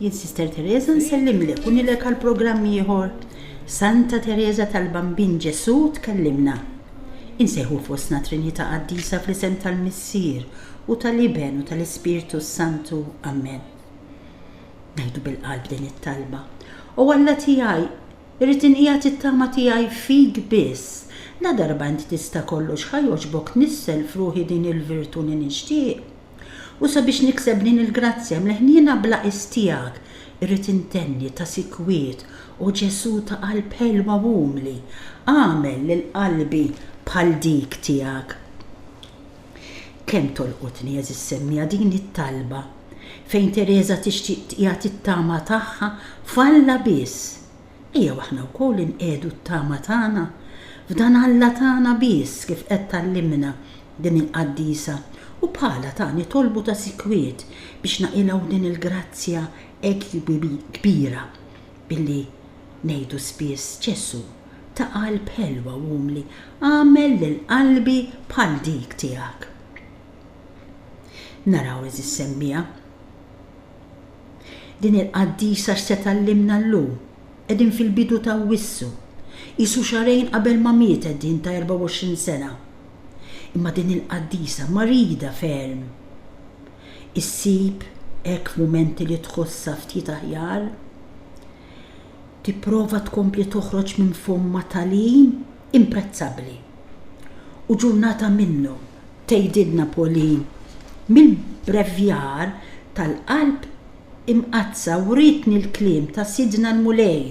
Jien Sister Teresa nsellimlek u nilek għal programm ieħor. Santa Teresa tal-Bambin Ġesù tkellimna. Insejħu fostna Trinità Qaddisa fl-isem tal-Missier u tal-Iben u tal-Ispirtu s-Santu. Amen. Ngħidu bil-qalb din it-talba. O Alla tiegħi, irrid inqiegħed it-tama tiegħi fik biss. La darba int tista' kollox ħa jogħġbok nissel f'ruħi din il-virtù li nixtieq. U sabiex nikseb din il-grazzja, mill-ħniena bla qies tiegħek, irrid intenni ta' sikwit, O Ġesù ta' qalb ħelwa u umli, agħmel lil qalbi bħal dik tiegħek. Kemm tolqotni, għeżież semmiegħa, din it-talba, fejn Tereża tixtieq tqiegħed it-tama tagħha f'Alla biss! Ejjew aħna wkoll inqiegħdu t-tama tagħna f'dan Alla tagħna biss kif qed tgħallimna din il-qaddisa u bħalha ta' nitolbu ta' sikwiet biex naqilgħu din il-grazzja hekk kbira billi ngħidu spiss, Ġesù, ta' qalb ħelwa u umli, agħmel lil qalbi bħal dik tiegħek. Naraw, għeżież semmiegħa. Din il-qaddisa x'se tgħallimna llum? Qegħdin fil-bidu t'Awwissu. Qisu xahrejn qabel ma mietet din ta' 24 sena. Imma din il-qaddisa marida ferm. Issib hekk f'mumenti li tħossha ftit aħjar? Tipprova tkompli toħroġ minn fommha tagħlim imprezzabbli. U ġurnata minnu, tgħidilna Pauline, mill-bbrevjar tal-qalb imqaddsa wrietni l-kliem ta' Sidna l-Mulej,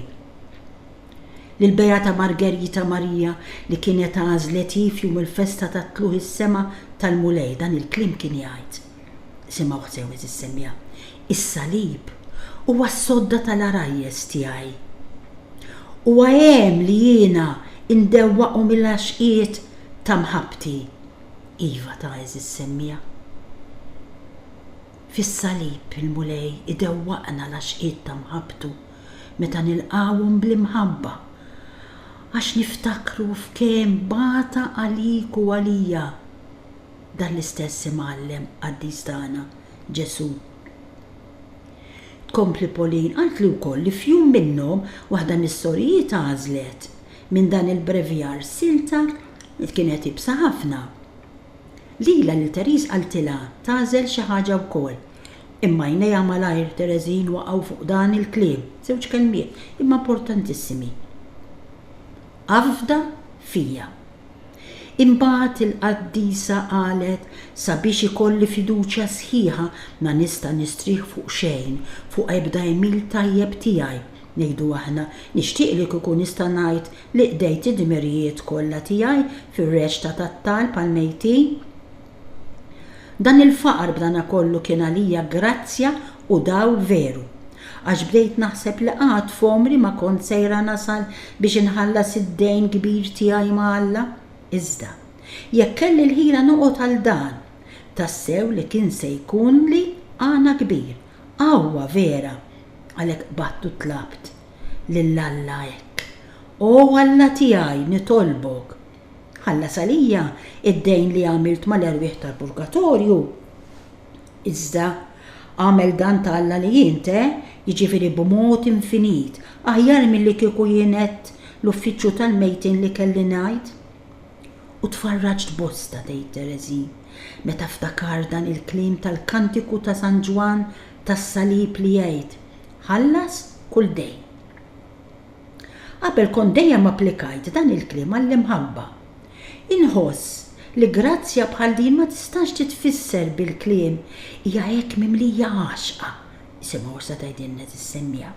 lill-Beata Margerita Marija li kienet għażlet hi f'jum il-festa tat-Tlugħ is-Sema tal-Mulej, dan il-kliem kien jgħid. Simgħuh sew eżiż semmiegħa, Is-Salib huwa s-sodda tal-għarajjes tiegħi. Huwa għen li jiena ndewwaqhom il-għaxqiet ta' mħabbti. Iva ta' eżiż semmiegħa. Fis-Salib il-Mulej idewwaqna l-għaxqiet ta' mħabbtu meta nilqgħuhom bl-imħabba għax niftakru f'kemm bata għalik u għalija. Dan l-istess Imgħallem qaddis tagħna, Ġesù. Tkompli Pauline, qaltli wkoll li f'jum minnhom waħda mis-sorijiet għażlet minn dan il-brevjar silta li kienet iebsa ħafna. Lilha lil Therese qaltilha tagħżel xi ħaġa wkoll. Imma għajnejha malajr Theresine waqgħu fuq dan il-kliem, żewġ kelmiet, imma importantissimi, Afda fija. Imbagħad il-qaddisa qalet, Sabiex ikolli fiduċja sħiħa, ma nista' nistrieħ fuq xejn, fuq ebda għemil tajjeb tiegħi, ngħidu aħna, nixtieq li kieku nista' ngħid li qdejt id-dmirijiet kollha tiegħi fir-reċta tat-talb għall-mejtin. Dan il-faqar b'danakollu kien għalija grazzja u dawl veru, għax bdejt naħseb li qatt f'għomri ma kont sejra nasal biex inħallas id-dejn kbir tiegħi ma' Alla. Iżda, jekk kelli l-ħila noqgħod għal dan, tassew li kien se jkunli għana kbir, qawwa vera, għalhekk qbadt u tlabt lil Alla hekk, O Alla tiegħi, nitolbok! Ħallas għalija d-dejn li għamilt mal-erwieħ tal-purgatorju. Iżda, agħmel dan ta' Alla li int, eh, jiġifieri b'mod infinit, aħjar milli kieku jien għedt l-uffiċċju tal-mejtin li kelli ngħid. U tfarraġt bosta, tgħid Thérèse, meta ftakart dan il-kliem tal-kantiku ta' San Ġwann tas-Salib li jgħid, Ħallas kull dejn. Qabel kont dejjem applikajt dan il-kliem għall-imħabba. Inħoss li grazzja bħal din ma tistax titfisser bil-kliem hija hekk mimlija għaxqa, isimgħu issa tgħidilna tissemmija.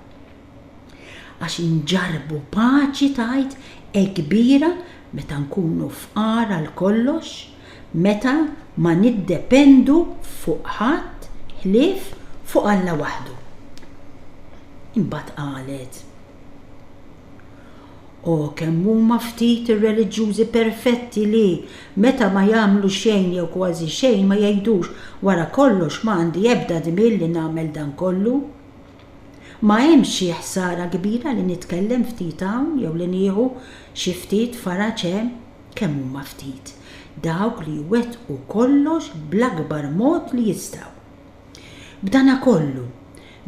Għax inġarrbu paċi tgħid hekk kbira meta nkunu fqar għal kollox? meta ma niddependu fuq ħadd ħlief fuq Alla waħdu. Imbagħad qalet, O kemm huma ftit ir-reliġjużi perfetti li, meta ma jagħmlu xejn jew kważi xejn, ma jgħidux, 'Wara kollox, ma għandi ebda dmir li nagħmel dan kollu. Ma hemmx xi ħsara kbira li nitkellem ftit hawn jew li nieħu xi ftit faraġ hemm. Kemm huma ftit dawk li jwettqu kollox bl-akbar mod li jistgħu! B'danakollu,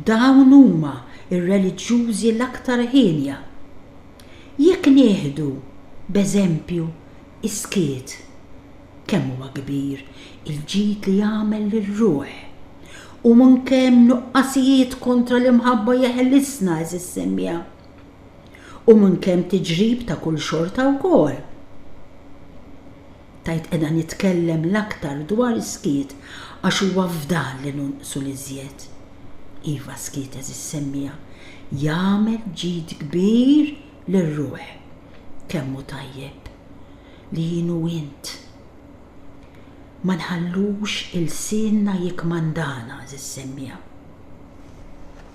dawn huma r-reliġjużi l-aktar hienja. Jekk nieħdu, b'eżempju, is-skiet, kemm huwa kbir il-ġid li jagħmel lir-ruħ! U minn kemm nuqqasijiet kontra l-imħabba jeħlisna, għeżież semmiegħa! U minn kemm tiġrib ta' kull xorta wkoll. Tajt qiegħda nitkellem l-aktar dwar is-skiet għax huwa f'dan li nonqsu l-iżjed. Iva s-skiet għeżiż semmiegħa jagħmel ġid kbir lir-ruħ. Kemm hu tajjeb li jien u int ma nħallux ilsienna jikkmandana għeżiż semmiegħa.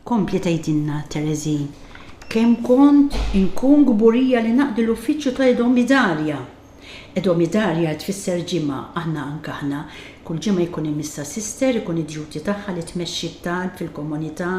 Tkompli tgħidilna Teresie kemm kont inkun kburija li naqdi l-uffiċċju ta' Edomidarja. Edomidarja tfisser ġimgħa, aħna anke aħna, kull ġimgħa jkun hemm issa sister ikun id-duty tagħha li tmexxi t-talb fil-komunità,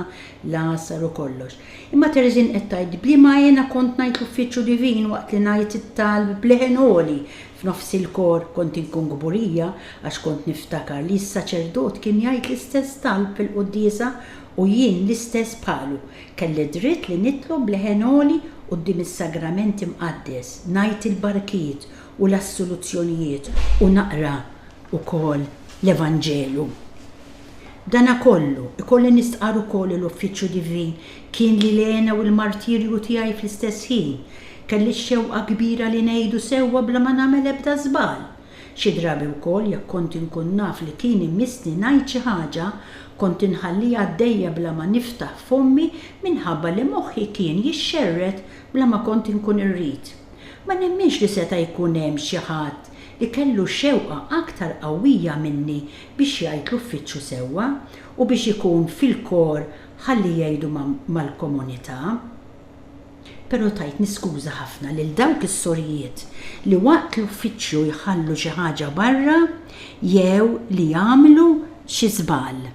l-għasar u kollox. Imma Teresie qed tgħid, B'liema għena kont ngħid l-uffiċċju divin waqt li ngħid it-talb b'leħen għoli F'nofs il-kor kont inkun kburija għax kont niftakar li s-saċerdot kien jgħid l-istess talb fil-quddiesa u jien l-istess bħalu. Kelli d-dritt li nitlob b'leħen għoli quddiem is-Sagrament Imqaddes, ngħid il-barkiet u l-assoluzzjonijiet u naqra wkoll l-Evanġelu. B'dana kollu, ikolli nistqarr ukoll li l-uffiċċju divin kien li l-hena u l-martirju tiegħi fl-istess ħin. Kelli x-xewqa kbira li ngħidu sewwa bla ma nagħmel ebda żball. Xi drabi wkoll jekk kont inkun naf li kien imissni ngħid xi ħaġa, kont inħalliha għaddejja bla ma niftaħ fommi minħabba li moħħi kien jixxerred bla ma kont inkun irrid. Ma nemminx li seta' jkun hemm xi ħadd li kellu xewqa aktar qawwija minni biex jgħid l-uffiċċju sewwa u biex ikun fil-kor ħalli jgħidu mal-komunità. Però tajt niskuża ħafna lil dawk is-sorijiet li waqt l-uffiċċju jħallu xi ħaġa barra jew li jagħmlu xi żball.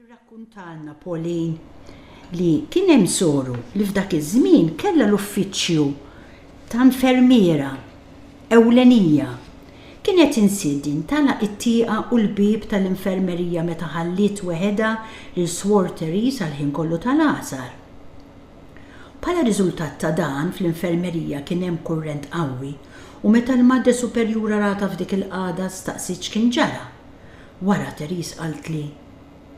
Tirrakkuntalna Pauline li kien hemm soru li f'dak iż-żmien kellha l-uffiċċju ta' infermiera ewlenija, kienet insiet din tagħlaq it-tieqa u l-bieb tal-infermerija meta ħalliet weħedha lil Swor Therese għall-ħin kollu tal-għasar. Bħala riżultat ta' dan, fl-infermerija kien hemm kurrent qawwi u meta l-Madre Superjura ratha f'dik il-qagħda staqsiet x'kien ġara. Wara Therese qaltli,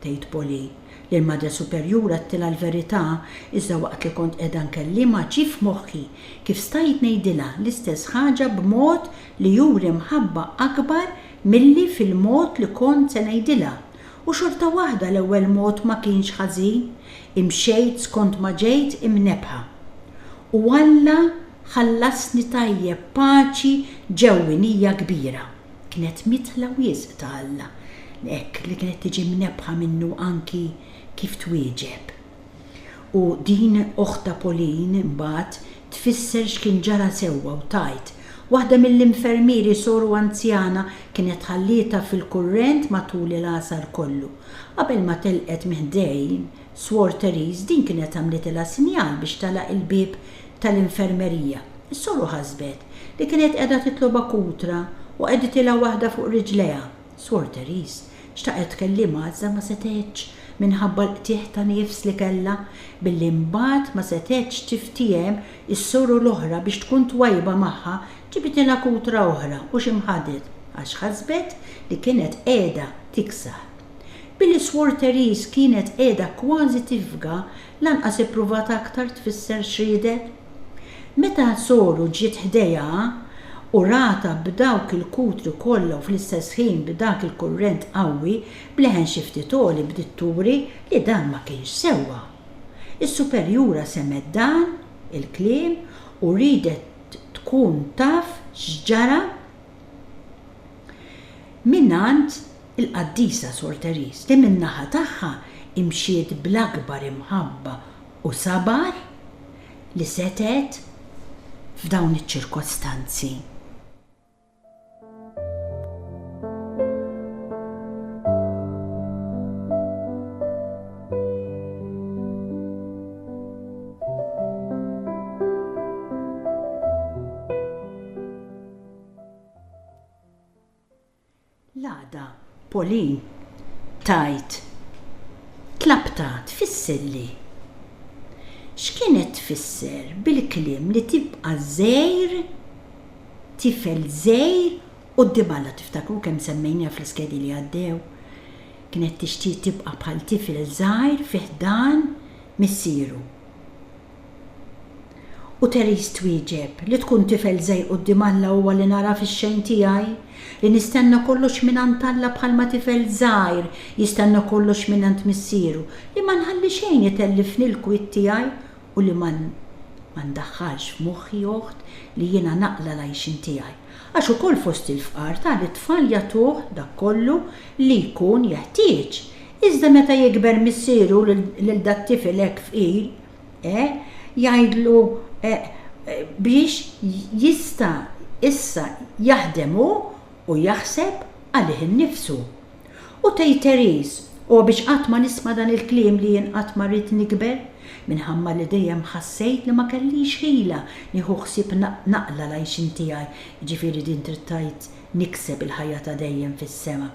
tgħid Polly, li l-Madre Superjura għedtilha l-verità iżda waqt li kont qiegħda nkellimha ġie f'moħħi kif stajt ngħidilha l-istess ħaġa b'mod li juri mħabba akbar milli fil-mod li kont se ngħidilha u xorta waħda l-ewwel mod ma kienx ħażin, imxejt skont ma ġejt imnebbħa. U Alla ħallasni tajjeb b'paċi ġewwinija kbira. kienet mitla wisq ta' Alla hekk li kienet tiġi mnebbħa minnu anki kif twieġeb. U din oħtha Pauline imbagħad tfisser x'kien ġara sewwa u tgħid, Waħda mill-infermieri soru anzjana kienet tħallietha fil-kurrent matul il-għasar kollu. Qabel ma telqet minn ħdejn, Swor Therese din kienet għamlitilha sinjal biex tagħlaq il-bieb tal-infermerija. Is-soru ħasbet li kienet qiegħda titlobha kutra u qegħditilha waħda fuq riġlejha. Swor Therese xtaqet tkellimha iżda ma setgħetx minħabba l-qtigħ ta' nifs li kellha, billi mbagħad ma setgħetx tiftiehem is-soru l-oħra biex tkun twajjba magħha ġibitilha kutra oħra u xi mħadet għax ħasbet li kienet qiegħda tiksah. Billi Swor Therese kienet qiegħda kważi tifga, lanqas ippruvat aktar tfisser x'riedet. Meta soru ġiet ħdejha u ratha b'dawk il-kutri kollha u fl-istess ħin b'dak il-kurrent qawwi, b'leħen xi ftit għoli bdiet turi li dan ma kienx sewwa. Is-superjura semgħet dan il-kliem u riedet tkun taf x'ġara, mingħand il-Qaddisa Sor Therese li min-naħa tagħha mxiet bl-akbar imħabba u sabar li setgħet f'dawn iċ-ċirkostanzi. L-għada, Pauline tgħid, Tlabtha tfissilli. X'kienet tfisser bil-kliem li tibqa' żgħir, tifel żgħir quddiem Alla? Tiftakru kemm semmejniha fl-iskedi li għaddew? Kienet tixtieq tibqa' bħal tifel żgħir fi ħdan missieru. U Therese twieġeb, Li tkun tifel żgħir quddiem Alla huwa li nara fix-xejn tiegħi, li nistenna kollox mingħand Alla bħalma tifel żgħir jistenna kollox mingħand missieru, li ma nħalli xejn itellifni l-kwiet tiegħi u li ma ma ndaħħalx f'moħħi, oħt, li jiena naqla' l-għajxien tiegħi. Għax ukoll fost il-fqar tali tfal jagħtuh dak kollu li jkun jeħtieġ, Iżda meta jikber missieru lil dat-tifel hekk fqir, eh, jgħidlu, eh, biex jista' issa jaħdem hu u jaħseb għalih innifsu. U tgħid Therese, O biex qatt ma nisma' dan il-kliem li jien qatt ma rrid nikber, minħabba li dejjem ħassejt li ma kellix ħila nieħu ħsieb naqla l-għajxien tiegħi, jiġifieri din trid tgħid nikseb il-ħajja ta' dejjem fis-sema.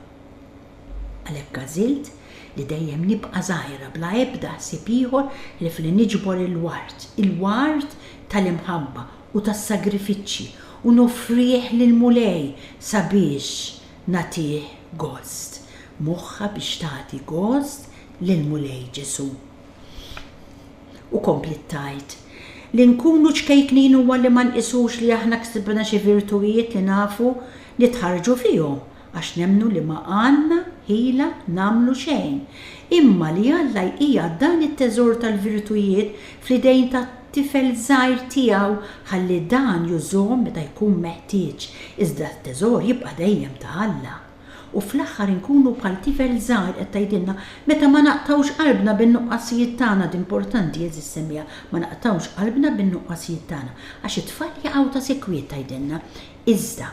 Għalhekk għażilt li dejjem nibqa' żgħira bla ebda ħsieb ieħor ħlief li niġbor il-ward, il-ward tal-imħabba u tas-sagrifiċċji, u noffrih lill-Mulej sabiex nagħtih gost. Moħħa biex tagħti gost lill-Mulej Ġesù. U kompliet tgħid, Li nkunu ċkejknin huwa li ma nqisux li aħna ksibna xi virtujiet li nafu nitħarrġu fihom għax nemmnu li ma għandna ħila nagħmlu xejn, imma li Alla jqiegħed dan it-teżor tal-virtujiet fl-idejn ta' tifel żgħir tiegħu ħalli dan jużhom meta jkun meħtieġ, iżda t-teżor jibqa' dejjem ta' Alla. U fl-aħħar inkunu bħal tifel żgħir qed tgħidilna, meta ma naqtgħux qalbna bin-nuqqasijiet tagħna, d' importanti għeżież semmiegħa, ma naqtgħux qalbna bin-nuqqasijiet tagħna, għax it-tfal jaqgħu ta' sikwit tgħidilna, iżda,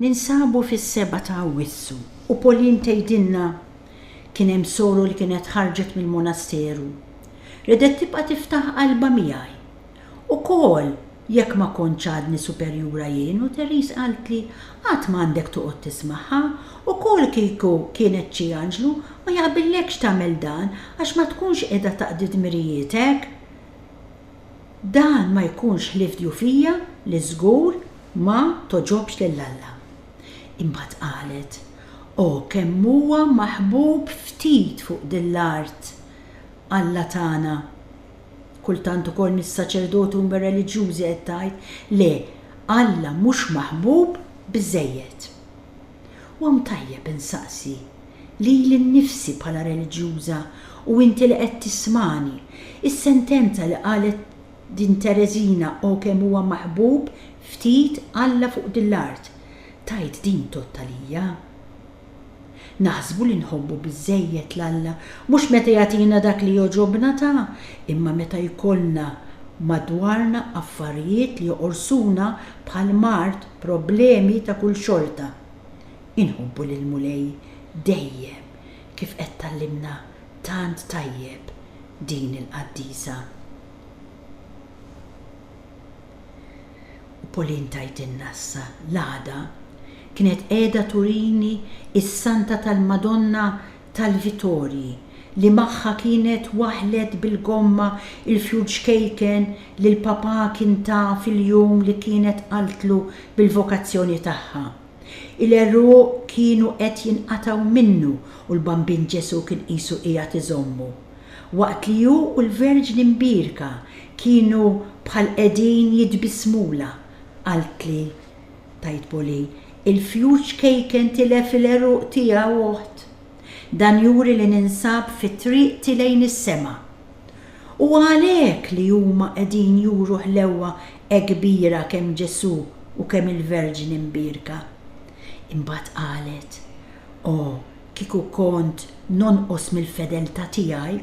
Ninsabu fis-seba' ta' Awwissu u Pauline tgħidilna, Kien hemm soru li kienet ħarġet mill-monasteru. Ridet tibqa' tiftaħ qalbha miegħi. Ukoll jekk ma kontx għadni superjura jien u Therese qaltli, Qatt m'għandek toqgħod tismagħha, ukoll kieku kienet xi anġlu ma jaqbillekx tagħmel dan għax ma tkunx qiegħda taqdi dmirijietek. Dan ma jkunx ħlief djufija li żgur ma togħġobx lil Alla. Imbagħad qalet, O kemm huwa maħbub ftit fuq din l-art Alla tagħna! Kultant ukoll mis-saċerdoti u mir-reliġjużi qed tgħid, Le, Alla mhux maħbub biżżejjed. U hawn tajjeb insaqsi lili nnifsi bħala reliġjuża u inti li qed tismagħni, is-sentenza li qalet din Tereżina O kemm huwa maħbub ftit Alla fuq din l-art, tgħid din tgħodd għalija? Naħsbu li nħobbu biżżejjed 'l Alla mhux meta jagħtina dak li jogħġobna ta, imma meta jkollna madwarna affarijiet li joqorsuna bħal mard problemi ta' kull xorta. Inħobbu lill-Mulej dejjem kif qed tgħallimna tant tajjeb din il-qaddisa. U Pauline tgħidilna issa l-għada kienet qiegħda turini s-Santa tal-Madonna tal-Vitorji li magħha kienet waħlet bil-gomma il-fjur ċkejken li l-Papà kien ta fil-jum li kienet qaltlu bil-vokazzjoni tagħha. Il-għeruq kienu qed jinqatgħu minnu u l-Bambin Ġesù kien qisu qiegħed iżommu. Waqt li hu u l-Verġni Mbierka kienu bħal qegħdin jitbissmulha, qaltli, Tgħid Poli, Il-fjuċ kejken tilef il-għeruq tiegħu, oħt. Dan juri li ninsab fi triqti lejn is-sema. Huwa għalhekk li huma qegħdin juru ħlewwa hekk kbira kemm Ġesù u kemm il-Verġni Mbierka. Imbagħad qalet, O, kieku kont nonqos mill-fedeltà tiegħi,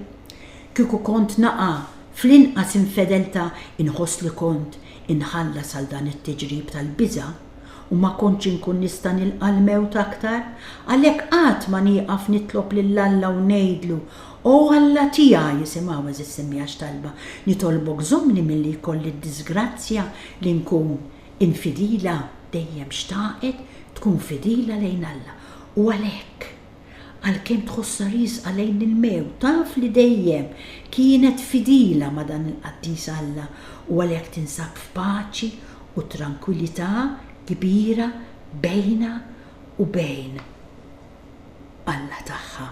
kieku kont naqa' fl-inqas infedeltà, inħoss li kont Inħallas għal dan it-tiġrib tal-biża' u ma kontx inkun nista' nilqa' l-mewt aktar, għalhekk qatt ma nieqaf nitlob lil Alla u ngħidlu, O Alla tiegħi, isimgħu għeżież immiegħa x'talba, nitolbok żommni milli jkolli d-diżgrazzja li nkun infidila, dejjem xtaqet tkun fidila lejn Alla u għalhekk, Għalkemm tħossha riesqa lejn il-mewt, taf li dejjem kienet fidila ma' dan il-qaddis Alla u għalhekk tinsab f'paċi u trankwilità kbira bejnha u bejn Alla tagħha.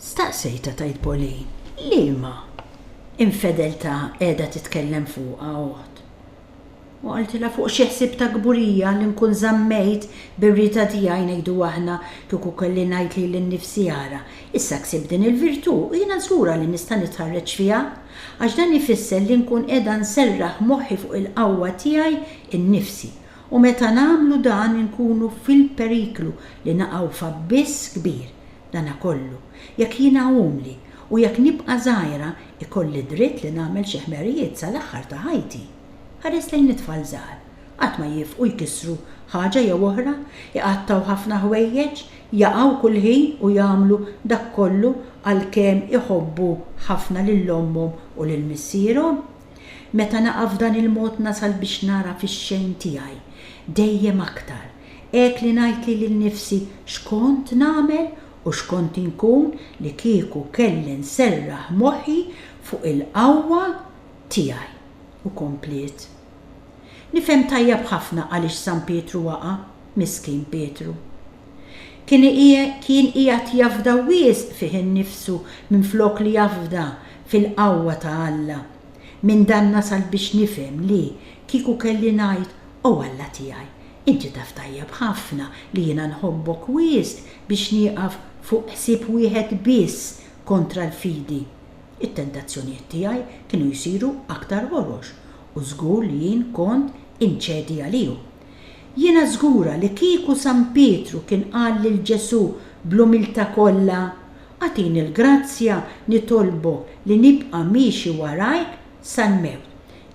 Staqsejtha tgħid Pauline, liema infedeltà qiegħda titkellem fuqha oħt? U qaltilha fuq xi ħsieb ta' kburija li nkun żammejt bir-Rita tiegħi ngħidu aħna kieku kelli ngħid lili nnifsi ara, issa ksibt din il-virtù u jiena żgura li nista' nitħarreġ fiha għax dan ifisser li nkun qiegħda nserraħ moħħi fuq il-qawwa tiegħi nnifsi U meta nagħmlu dan inkunu fil-periklu li naqgħu f'abbiss kbir. Dana kollu, jekk jiena umli u jekk nibqa' żgħira, ikolli dritt li nagħmel xi ħmerijiet sal-aħħar ta' ħajti. Ħares lejn it-tfal żgħar. Qatt ma jiefqu jkissru ħaġa jew oħra, iqattgħu ħafna ħwejjeġ, jaqgħu kull ħin u jagħmlu dak kollu għalkemm iħobbu ħafna lil ommhom u lil missierhom. Meta naqa' f'dan il-mod nasal biex nara fix-xejn tiegħi dejjem aktar, hekk li ngħidli lil nifsi x'kont nagħmel u x'kont inkun li kieku kelli nserraħ moħħi fuq il-qawwa tiegħi. U kompliet. Nifhem tajjeb ħafna għaliex San Pietru waqa', miskin Pietru. Kien qiegħed jafda wisq fih innifsu minflok li jafda fil-qawwa ta' Alla. Minn dan nasal biex nifhem li, kieku kelli ngħid, O Alla tiegħi, inti taf tajjeb ħafna li jiena nħobbok wisq biex nieqaf fuq ħsieb wieħed biss kontra l-fidi, it-tentazzjonijiet tiegħi kienu jsiru aktar ħorox u żgur li jien kont inċedi għalihom. Jiena żgura li kieku San Pietru kien qal lil Ġesù bl-umiltà kollha, Agħtini l-grazzja nitolbok li nibqa' miexi warajk sal-mewt,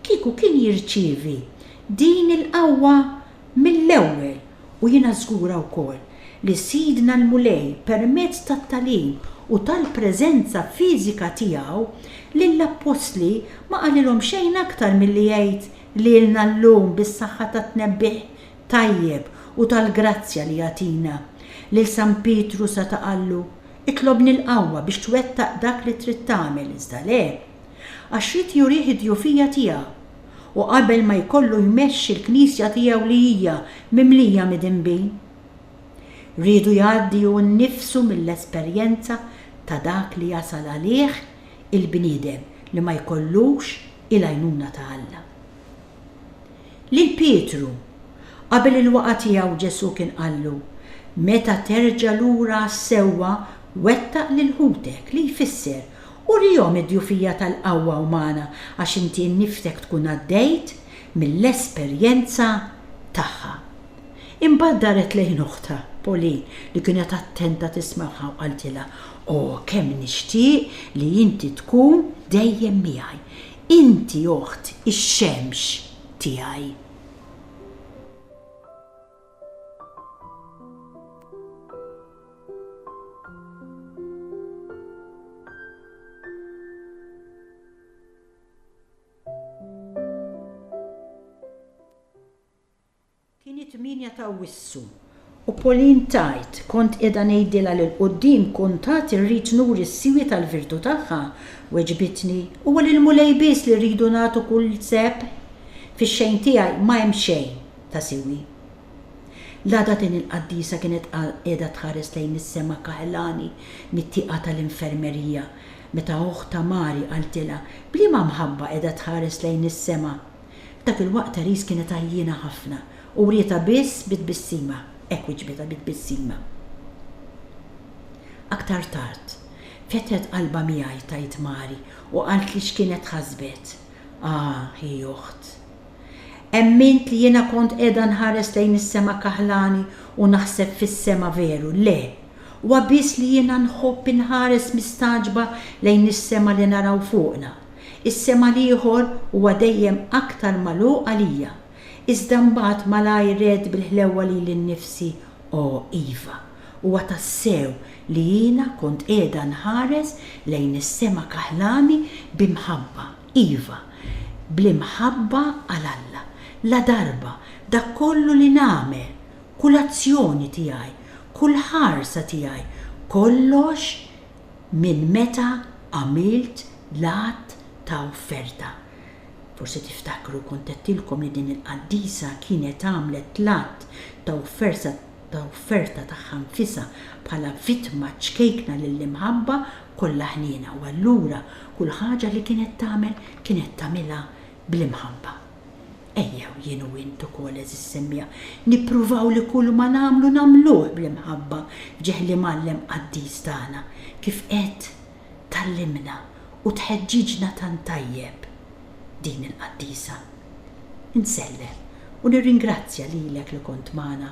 kieku kien jirċievi din il-qawwa mill-ewwel u jiena żgura wkoll li Sidna l-Mulej permezz tat-tagħlim u tal-preżenza fiżika tiegħu lill-appostli ma qalilhom xejn aktar milli jgħid Lilna llum bis-saħħa tat-tnebbiħ tajjeb u tal-grazzja li jagħtina. Lil San Pietru seta' qallu, Itlobni l-qawwa biex twettaq dak li trid tagħmel, iżda le. Għax ried jurih id-djufija tiegħu. U qabel ma jkollu jmexxi l-Knisja tiegħu li hija mimlija midinbin. Riedu jgħaddi hu nnifsu mill-esperjenza ta' dak li jasal għalih il-bniedem li ma jkollux il-għajnuna ta' Alla. Lil Pietru, qabel il-waqgħa tiegħu Ġesù kien qallu, Meta terġa' lura għas-sewwa, wettaq lil ħutek, li jfisser, urihom id-djufija tal-qawwa umana għax inti nnifsek tkun għaddejt mill-esperjenza tagħha. Imbagħad daret lejn oħtha, Pauline, li kienet attenta tismagħha u qaltilha, O, kemm nixtieq li inti tkun dejjem miegħi! Inti, oħt, ix-xemx tiegħi! Kien it-tmienja ta' Awwissu u Pauline tgħid, Kont qiegħda ngħidilha li 'l quddiem kuntatt irrid nuri s-siwi tal-virtu tagħha. Weġbitni, Huwa lill-Mulej biss li rridu nagħtu kull seb. Fix-xejn tiegħi ma hemm xejn ta' siwi. L-għada din il-qaddisa kienet qiegħda tħares lejn is-sema kaħlani mit-tieqa tal-infermerija meta oħtha Mari qaltilha, B'liema mħabba qiegħda tħares lejn is-sema? F'dak il-waqt Therese kienet għajjiena ħafna u wrietha biss bi tbissima, hekk wiġbitha bi tbissima. Aktar tard, fetħet qalbha miegħi, tgħid Mary, u qaltli x'kienet ħasbet. Ah, hi oħt. Emmint li jiena kont qiegħda nħares lejn is-sema kaħlani u naħseb fis-sema veru, le! Huwa biss li jiena nħobb inħares mistagħġba lejn is-sema li naraw fuqna, Is-sema l-ieħor huwa dejjem aktar magħluq għalija, iżda mbagħad malajr għedt bil-ħlewwa lili nnifsi, O, iva, huwa tassew li jiena kont qiegħda nħares lejn is-sema kaħlani bi mħabba, iva, bl-imħabba għal Alla, ladarba dak kollu li nagħmel, kull azzjoni tiegħi, kull ħarsa tiegħi, kollox Minn meta għamilt l-għadd ta' offerta. Forsi tiftakru kont għedtilkom li din il-qaddisa kienet għamlet l-għadd ta' offerta ta' offerta tagħha nfisha bħala vittma ċkejkna lill-imħabba kollha ħniena u allura kull ħaġa li kienet tagħmel kienet tagħmilha bl-imħabba. Ejjew jien u int ukoll, għeżież semmiegħa, nippruvaw li kulma nagħmlu nagħmluh bl-imħabba f'ġieħ l-Imgħallem qaddis tagħna, kif qed tgħallimna u tħeġġiġna tant tajjeb din il-qaddisa. Insellem u nirringrazzja lilek li kont magħna